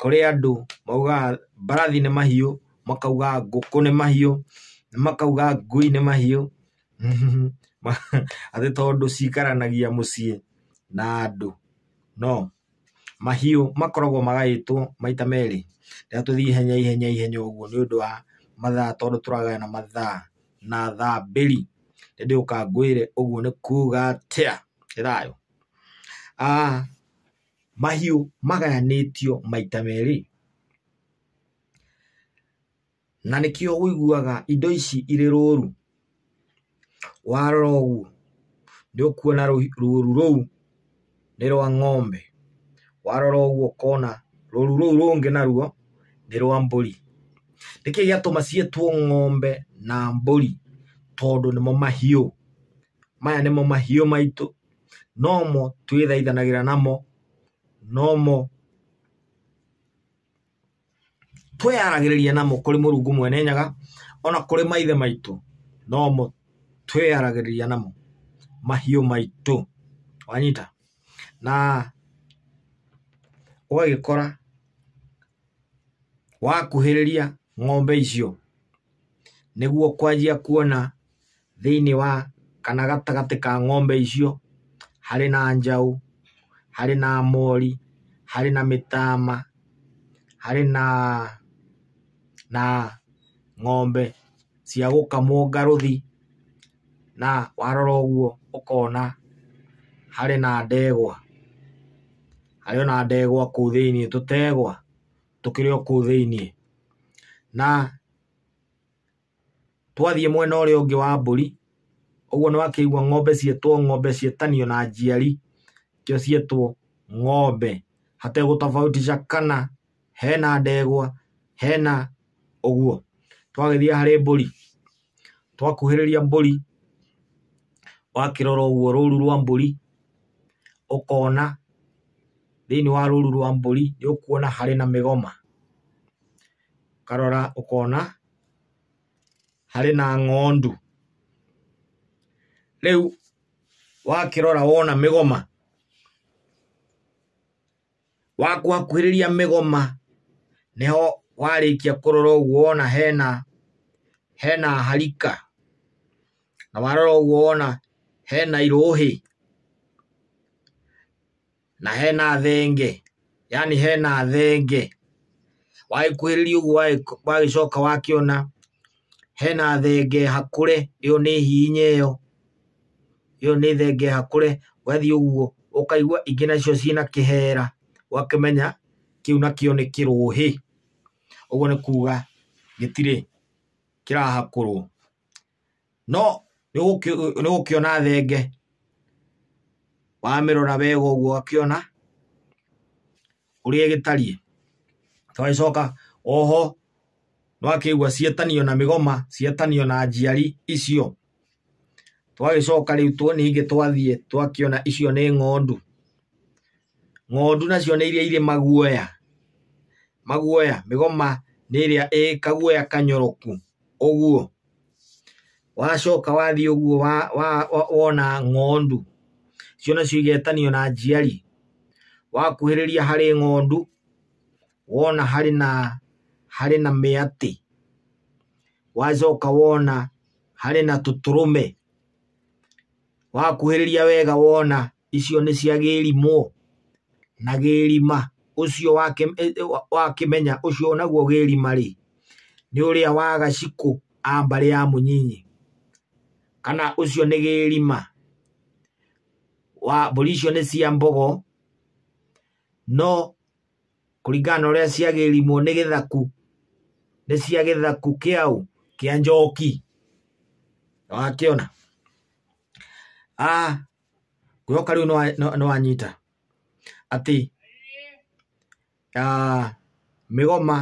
kũrĩ andũ maugaga mbarathi nĩ mahiũ, makauga ngũkũ nĩ mahiũ, makauga ngui nĩ mahiũ, atĩ tondũ cikaranagia mũciĩ na andũ. No, mahiũ makoragwo magaĩtwo maita merĩ. Reke tũthiĩ ihenya ihenya ihenya ũguo nĩ ũndũ wa mathaa tondũ tũragayana mathaa na thaa mbĩri. Ĩndĩ ũkangũĩre ũguo nĩ kuuga atĩa? Ĩĩ thayũ? mahiũ magayanĩtio maita merĩ. Na nĩkĩo ũiguaga indo ici irĩ rũru, warora ũguo nĩ ũkuona rũru rũu nĩ rwa ng'ombe, warora ũguo ũkona rũru rũu rũngĩ naruo nĩ rwa mbũri. Nĩkĩĩ gĩatũma ciĩtwo ng'ombe na mbũri? Tondũ nĩmo mahiũ. maya nĩmo mahiũ maitũ nomo twĩthaithanagĩra namo nomo twĩyaragĩrĩria namo kũrĩ mũrungu mwene nyaga ona kũrĩ maithe maitũ nomo twĩyaragĩrĩria namo mahiũ maitũ wanyita na ũgagĩkora wakuhĩrĩria ng'ombe icio nĩguo kwanjia kuona thĩinĩ wa kana gatagatĩ ka ng'ombe icio harĩ na njaũ, harĩ na mori, harĩ na mĩtama, harĩ na na ng'ombe cia gũkamwo ngarũthi na warora ũguo ũkona harĩ na ndegwa, harĩ ona ndegwa kũu thĩinĩ, tũtegwa tũkĩrĩ o kũu thĩinĩ na... Twathiĩ mwena ũrĩa ũngĩ wa mbũri, ũguo nĩ wakĩigua ng'ombe ciĩtwo ng'ombe ciĩtanio na njiari, kĩo ciĩtwo ng'ombe. Hategũtobautisha kana hena ndegwa, hena ũguo. Twagĩthiĩ harĩ mbũri, twakuhĩrĩria mbũri, wakĩrora ũguo rũru rwa mbũri, ũkona thĩiniĩ wa rũru rwa mbũri nĩ ũkuona harĩ na mĩgoma. ũkarora ũkona harĩ na ng'ondu. Rĩu wakĩrora wona mĩgoma, wakuhakuhĩrĩria mĩgoma nĩho warĩkia kũrora ũguo wona hena hena harika, na warora ũguo wona hena irũhĩ. na hena thenge yani hena thenge wagĩkuhĩrĩria ũguo wagĩcoka wakĩona hena thenge hakũre ĩyo nĩ hihinya ĩyo ĩyo nĩ thenge hakũre wathiĩ ũguo ũkaigua ingĩ nacio ciĩna kĩhera ũgakĩmenya kĩu nakĩo nĩ kĩrũhĩ ũguo nĩ kuga gĩtirĩ kĩrahakũrwo no nĩ gũkĩona thenge wamĩrora wega ũguo ũgakĩona ũrĩa ĩgĩtariĩ. Twagĩcoka oho nĩ wakĩigua cietanio na mĩgoma, cietanio na njiari icio. Twagĩcoka rĩu ningĩ twathiĩ twakĩona icio nĩ ng'ondu. ng'ondu nacio nĩ iria irĩ maguoya maguoya mĩgoma nĩ ĩrĩa ĩ kaguoya kanyoroku ũguo wacoka wathiĩ ũguo wa, wa, wa, wona ng'ondu cio nacio igetanio na njiari wakuhĩrĩria harĩ ng'ondu wona harĩ na harĩ na mĩatĩ wacoka wona harĩ na tũtũrũme Wakuhĩrĩria wega wona icio nĩ cia gĩrimũ na gĩrima ũcio wakĩmenya e, e, ũcio naguo gĩrima rĩ nĩ ũrĩa wa gacikũ a mbarĩ ya mũnyinyi kana ũcio nĩ gĩrima wa mbũri icio nĩ cia mbogo no kũringana na ũrĩa ciagĩrimwo nĩ gĩthaku nĩ cia gĩthaku kĩaũ kĩa njoki wakĩona ah, kwĩhoka rĩu nĩwanyita atĩ ah, mĩgoma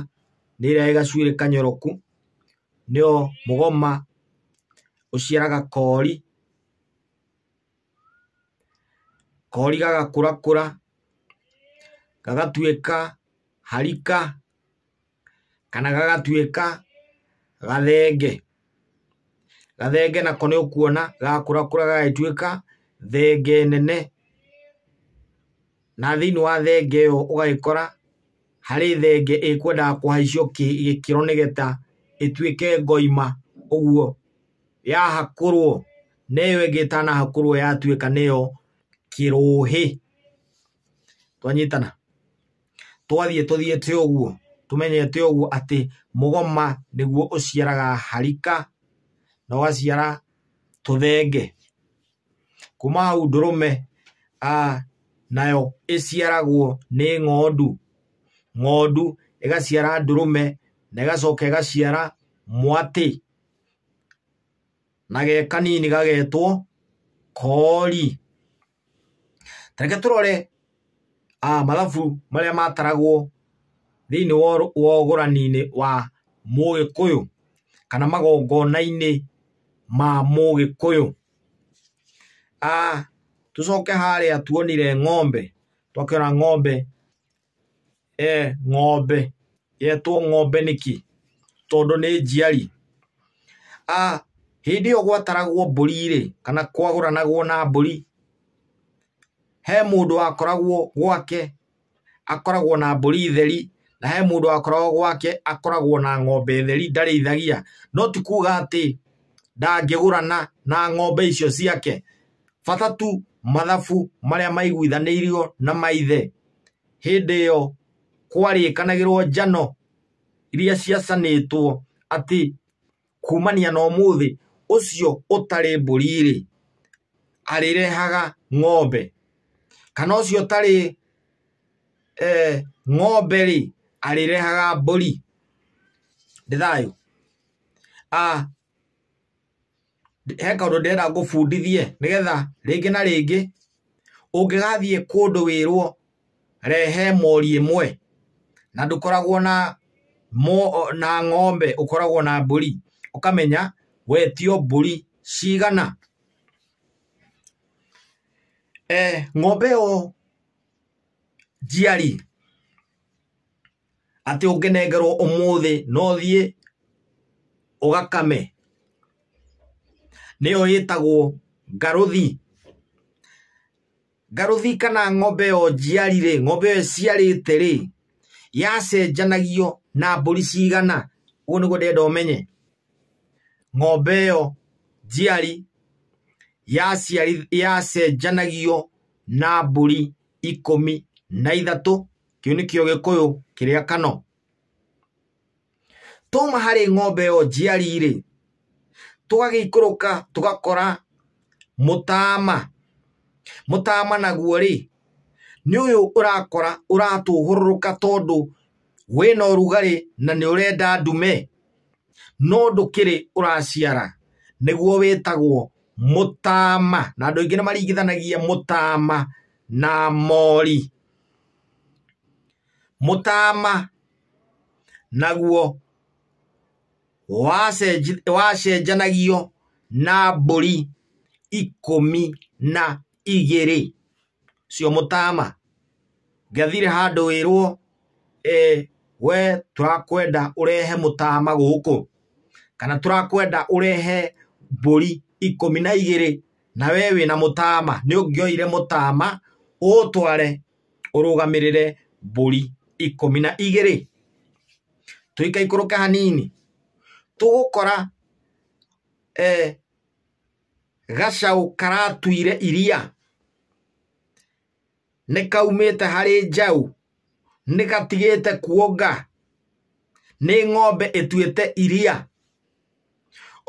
nĩ ĩrĩa ĩgacuĩrĩ kanyoroku nĩo mũgoma ũciaraga kori kori gagakũrakũra gagatuĩka harika kana gagatuĩka gathenge. Gathenge nako nĩ ũkuona gagakũrakũra gagagĩtuĩka thenge nene. na thĩinĩ wa thenge ĩyo ũgagĩkora harĩ thenge ĩkwendaga kũhaicio kĩ- gĩkĩro nĩgetha ĩtuĩke ngoima ũguo yahakũrwo na ĩyo ĩngĩ ĩtanahakũrwo yatuĩka nĩyo kĩrũhĩ twanyitana twathiĩ tũthiĩte ũguo tũmenyete ũguo atĩ mũgoma nĩguo ũciaraga harika na ũgaciara tũthenge kuma hau ndũrũme a nayo ĩciaragwo nĩ ng'ondu ng'ondu ĩgaciara ndũrũme na ĩgacoka ĩgaciara mwatĩ na ge kanini gagetwo kori tareke tũrore ah, mathabu marĩa mataragwo thĩinĩ wa ũr- wa ũgũrani-inĩ wa mũgĩkũyũ kana magongona-inĩ ma mũgĩkũyũ ah, tũcoke harĩa tuonire ng'ombe twakĩona ng'ombe e, ng'ombe yetwo ng'ombe nĩkĩ tondũ nĩ njiari a hĩndĩ ĩyo gwataragwo mbũri-rĩ kana kwagũranagwo na mbũri he mũndũ wakoragwo gwake akoragwo na mbũri theri na he mũndũ wakoragwo gwake akoragwo na ng'ombe theri ndarĩithagia no ti kuga atĩ ndangĩgũrana na ng'ombe icio ciake bata tu mathabu marĩa maiguithanĩirio na maithe hĩndĩ ĩyo kwarĩkanagĩrwo njano iria ciacanĩtwo atĩ kumania na ũmũthĩ ũcio ũtarĩ mbũri-rĩ, arĩrehaga ng'ombe, kana ũcio ũtarĩ eh, ng'ombe-rĩ, arĩrehaga mbũri. Nĩ thayũ? Ah, he kaũndũ ndĩrenda ngũbundithie nĩgetha rĩngĩ na rĩngĩ ũngĩgathiĩ kũndũ wĩrwo rehe mori ĩmwe na ndũkoragwo na na ng'ombe ũkoragwo na mbũri ũkamenya wetio mbũri cigana. Ng'ombe ĩyo njiari atĩ ũngĩnengerwo ũmũthĩ no thiĩ ũgakame nĩyo ĩtagwo ngarũthi ngarũthi kana ng'ombe ĩyo njiari rĩ ng'ombe ĩyo ĩciarĩte rĩ yacenjanagio na mbũri cigana ũguo nĩguo ndĩrenda ũmenye ng'ombe ĩyo njiari yacenjanagio na mbũri ikũmi na ithatũ kĩu nĩkĩo gĩkũyũ kĩrĩa kano twauma harĩ ng'ombe ĩyo njiari-rĩ tũgagĩikũrũka tũgakora mũtama mũtama naguo-rĩ nĩ ũyũ ũrakora ũratũhũrũrũka tondũ wĩna ũrugarĩ na nĩ ũrenda ndume no ndũkĩrĩ ũraciara nĩguo wĩtagwo mũtama na andũ aingĩ nĩ maringithanagia mũtama na mori. mũtaama naguo wacenji- wacenjanagio na mbũri ikũmi na igĩrĩ cio mũtaama ngathire handũ wĩrwo eh, we tũrakwenda ũrehe mũtaama gũkũ kana tũrakwenda ũrehe mbũri ikũmi na igĩrĩ na we wĩna mũtama nĩ ũngĩoire mũtama ũũtware ũrũgamĩrĩre mbũri ikũmi na igĩrĩ tũikaikũrũke hanini tũgũkora eh, gacaũ karatuire iria Nĩkaumĩte harĩ njaũ, nĩgatigĩte kuonga, nĩ ng'ombe ĩtuĩte iria.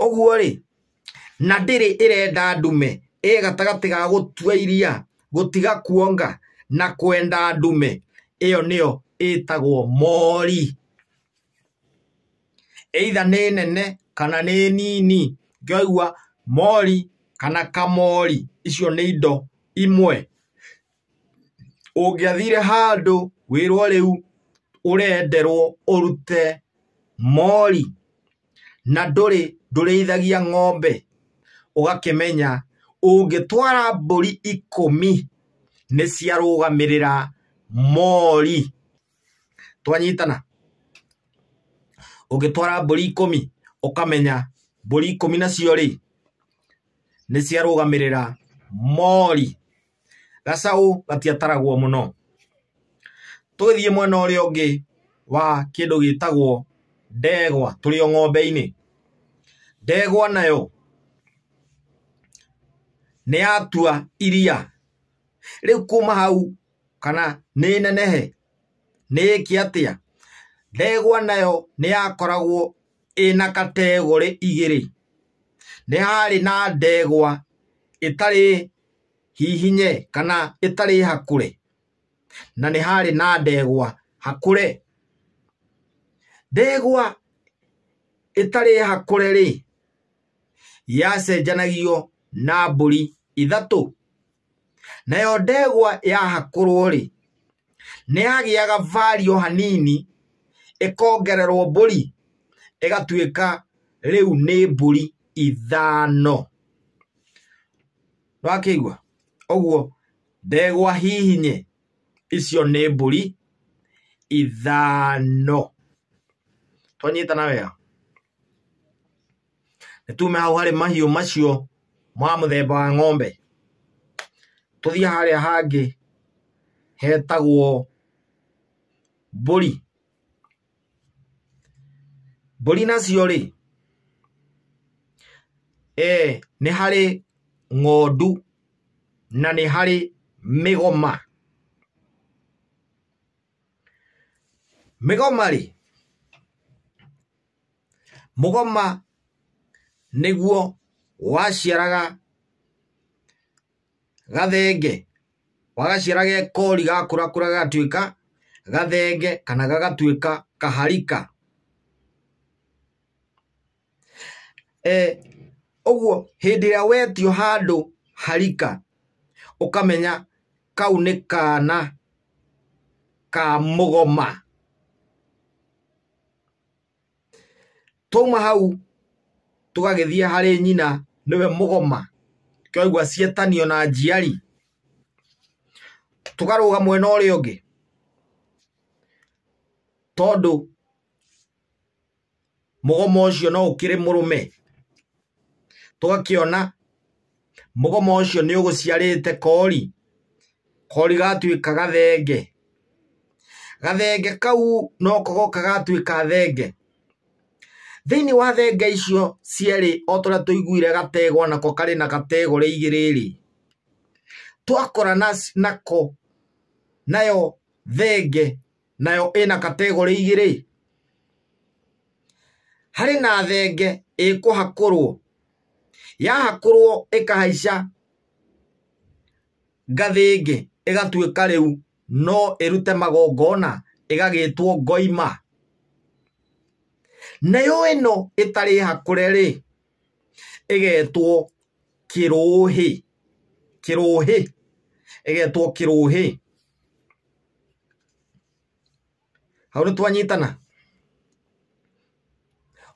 Ũguo-rĩ, na ndĩrĩ ĩrenda ndume, ĩ gatagatĩ ga gũtua iria, gũtiga kuonga, na kwenda ndume, ĩyo nĩyo ĩtagwo mori. either nĩ nene kana nĩ nini ngĩaigua mori kana kamori icio nĩ indo imwe ũngĩathire handũ wĩrwo rĩu ũrenderwo ũrute mori na ndũrĩ ndũrĩithagia ng'ombe ũgakĩmenya ũngĩtwara mbũri ikũmi nĩ ciarũgamĩrĩra mori. twanyitana ũngĩtwara mbũri ikũmi ũkamenya mbũri ikũmi nacio rĩ nĩ ciarũgamĩrĩra mori gacaũ gatiataragwo mũno tũgĩthiĩ mwena ũrĩa ũngĩ wa kĩndũ gĩtagwo ndegwa tũrĩ o ng'ombe-inĩ ndegwa nayo nĩ yatua iria rĩu kuma hau kana nĩ nenehe? Nĩ ĩĩke atĩa? Ndegwa nayo nĩ yakoragwo ĩna kategorĩ igĩrĩ. Nĩ harĩ na ndegwa ĩtarĩ hihinye kana ĩtarĩ hakũre, na nĩ harĩ na ndegwa hakũre. Ndegwa ĩtarĩ hakũre-rĩ, yacenjanagio na mbũri ithatũ. Nayo ndegwa yahakũrwo-rĩ, nĩyagĩaga vali o hanini, ĩkongererwo mbũri, ĩgatuĩka rĩu nĩ mbũri ithano. Nĩwakĩigua? Ũguo ndegwa hihinye icio nĩ mbũri ithano. Twanyitana wega? nĩ tume hau harĩ mahiũ macio ma mũthemba wa ng'ombe tũthiĩ harĩa hangĩ hetagwo mbũri mbũri nacio rĩ eh, nĩ harĩ ng'ondu na nĩ harĩ mĩgoma mĩgoma rĩ mũgoma nĩguo waciaraga gathenge wagaciara gekori gakũrakũra gagatuĩka gathenge kana gagatuĩka kaharika Eh, ũguo hĩndĩ ĩrĩa wetio handũ harika ũkamenya kau nĩ kana ka mũgoma Twauma hau tũgagĩthiĩ harĩ nyina nĩwe mũgoma, twaigua cietanio na njiari, tũkarũga mwena ũrĩa ũngĩ tondũ mũgoma ũcio no ũkĩrĩ mũrũme, tũgakĩona... mũgoma ũcio nĩ ũgũciarĩte kori kori gatuĩka gathenge gathenge kau noko goka gatuĩka thenge thĩinĩ wa thenge icio cierĩ o tũrĩa tũiguire gatego nako karĩ na gatego rĩ igĩrĩ rĩ twakora nako nayo thenge nayo ĩna kategorĩ igĩrĩ harĩ na thenge ĩkũhakũrwo yahakũrwo ĩkahaica ngathĩ ĩngĩ ĩgatuĩka rĩu no ĩrute magongona ĩgagĩtwo ngoima nayo ĩno ĩtarĩ hakũre rĩ ĩgetwo kĩrũhĩ kĩrũhĩ ĩgetwo kĩrũhĩ Hau nĩ twanyitana?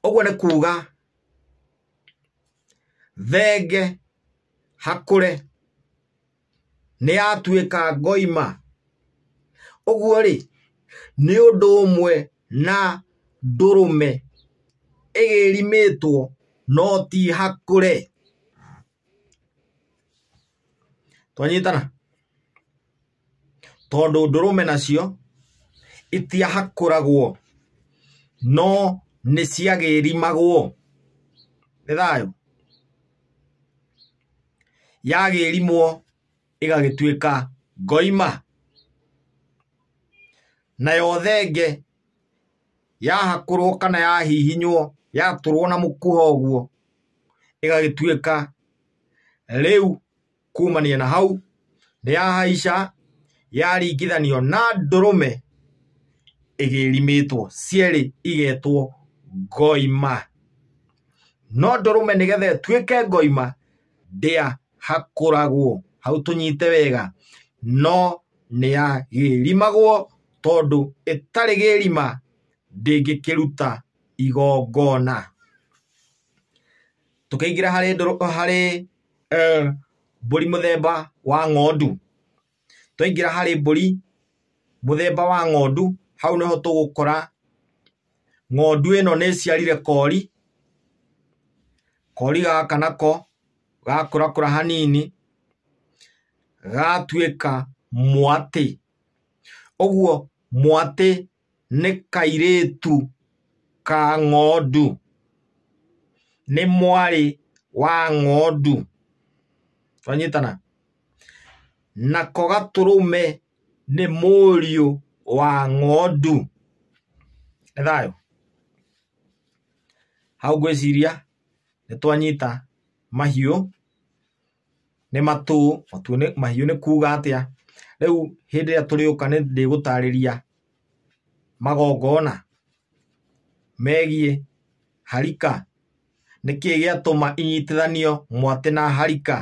Ũguo nĩ kuuga thenge hakũre nĩ yatuĩka ngoima. Ũguo rĩ, nĩ ũndũ ũmwe na ndũrũme ĩgĩrimĩtwo no ti hakũre. Twanyitana? tondũ ndũrũme nacio itiahakũragwo no nĩ ciagĩrimagwo nĩ thayũ yagĩrimwo ĩgagĩtuĩka ngoima nayo thenge yahakũrwo kana yahihinywo yatũrwo na mũkuha ũguo ĩgagĩtuĩka rĩu kumania na hau nĩ yahaica yaringithanio na ndũrũme ĩgĩrimĩtwo cierĩ igetwo ngoima no ndũrũme nĩgetha ĩtuĩke ngoima ndĩa hakũragwo hau tũnyite wega no nĩ yagĩrimagwo tondũ ĩtarĩ gĩrima ndĩngĩkĩruta igongona tũkĩingĩra harĩ ndũrũ harĩ eh, mbũri mũthemba wa ng'ondu twaingĩra harĩ mbũri mũthemba wa ng'ondu hau nĩho tũgũkora ng'ondu ĩno nĩ ĩciarire kori kori gaka nako gakũrakũra hanini gatuĩka mwatĩ ũguo mwatĩ nĩ kairĩtu ka ng'ondu nĩ mwarĩ wa ng'ondu twanyitana nako gatũrũme nĩ mũriũ wa ng'ondu nĩ thayũ hau ngwĩciria nĩ twanyita mahiũ Nĩ matũ, matũ nĩ, mahiũ nĩ kuga atĩa? Rĩu hĩndĩ ĩrĩa tũrĩũka nĩ ndĩgũtarĩria magongona megiĩ harika. Nĩ kĩĩ gĩatũma inyitithanio mwatĩ na harika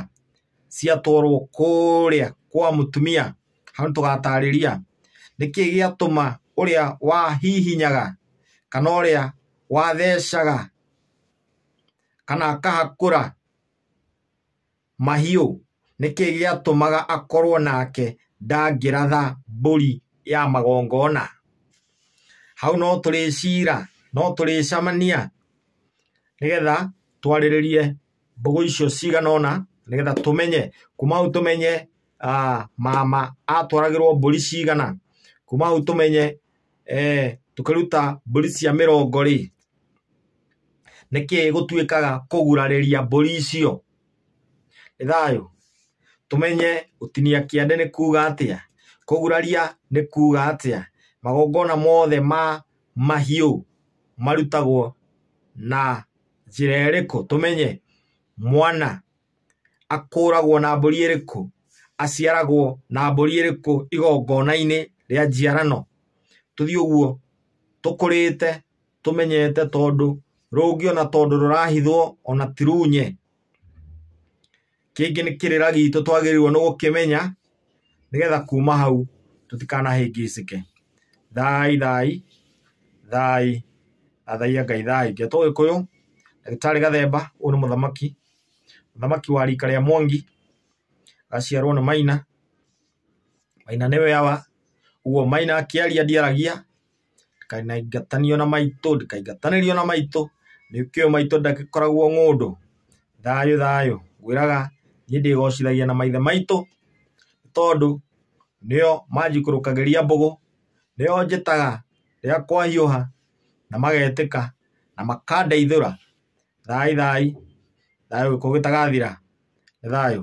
ciatwarwo kũũrĩa kwa mũtumia? Hau nĩ tũgatarĩria. Nĩ kĩĩ gĩatũma ũrĩa wahihinyaga kana ũrĩa wathecaga kana akahakũra Mahiũ, nĩ kĩ gĩatũmaga akorwo nake ndangĩratha mbũri ya magongona? Hau no tũrĩcira, no tũrĩcamania nĩ getha twarĩrĩrie mbũgũ icio cigana ũna nĩ getha tũmenye, kuma hau tũmenye mama atwaragĩrwo mbũri cigana, kuma hau tũmenye tũkĩruta mbũri cia mĩrongo rĩ. nĩkĩĩ gũtuĩkaga kũgurarĩria mbũri icio nĩ thayũ tũmenye gũtinia kĩande nĩ kuga atĩa kũguraria nĩ kuga atĩa magongona mothe ma mahiũ marutagwo na njĩra ĩrĩkũ tũmenye mwana akũragwo na mbũri ĩrĩkũ aciaragwo na mbũri ĩrĩkũ igongona-inĩ rĩa njiarano tũthiĩ ũguo tũkũrĩte. tũmenyete tondũ rũngĩ ona tondũ rũrahithwo ona ti runye kĩngĩ nĩ kĩrĩra gitũ twagĩrĩirwo nĩ gũkĩmenya nĩgetha kuma hau tũtikanahĩngĩcĩke thai thai thai athaiya ngai thai ngai tũgĩkũyũ ndagĩtarĩ gathemba ũyũ nĩ mũthamaki mũthamaki wa rika rĩa mwangi gaciarwo nĩ maina maina nĩwe awa ũguo maina akĩaria ndiaragia ndikainaingatanio na maitũ, ndikaingatanĩrio na maitũ, nĩkĩo maitũ ndagĩkoragwo ng'ũndũ. Thayũ thayũ, ngwĩraga niĩ ndĩgocithagia na maithe maitũ, nĩ tondũ nĩo manjikũrũkagĩria mbũgũ, nĩo njĩtaga rĩrĩa kwahiũha na magetĩka na makandeithũra. Thayũ thayũ, thayũ gĩkuũ gĩtagathira. Nĩ thayũ.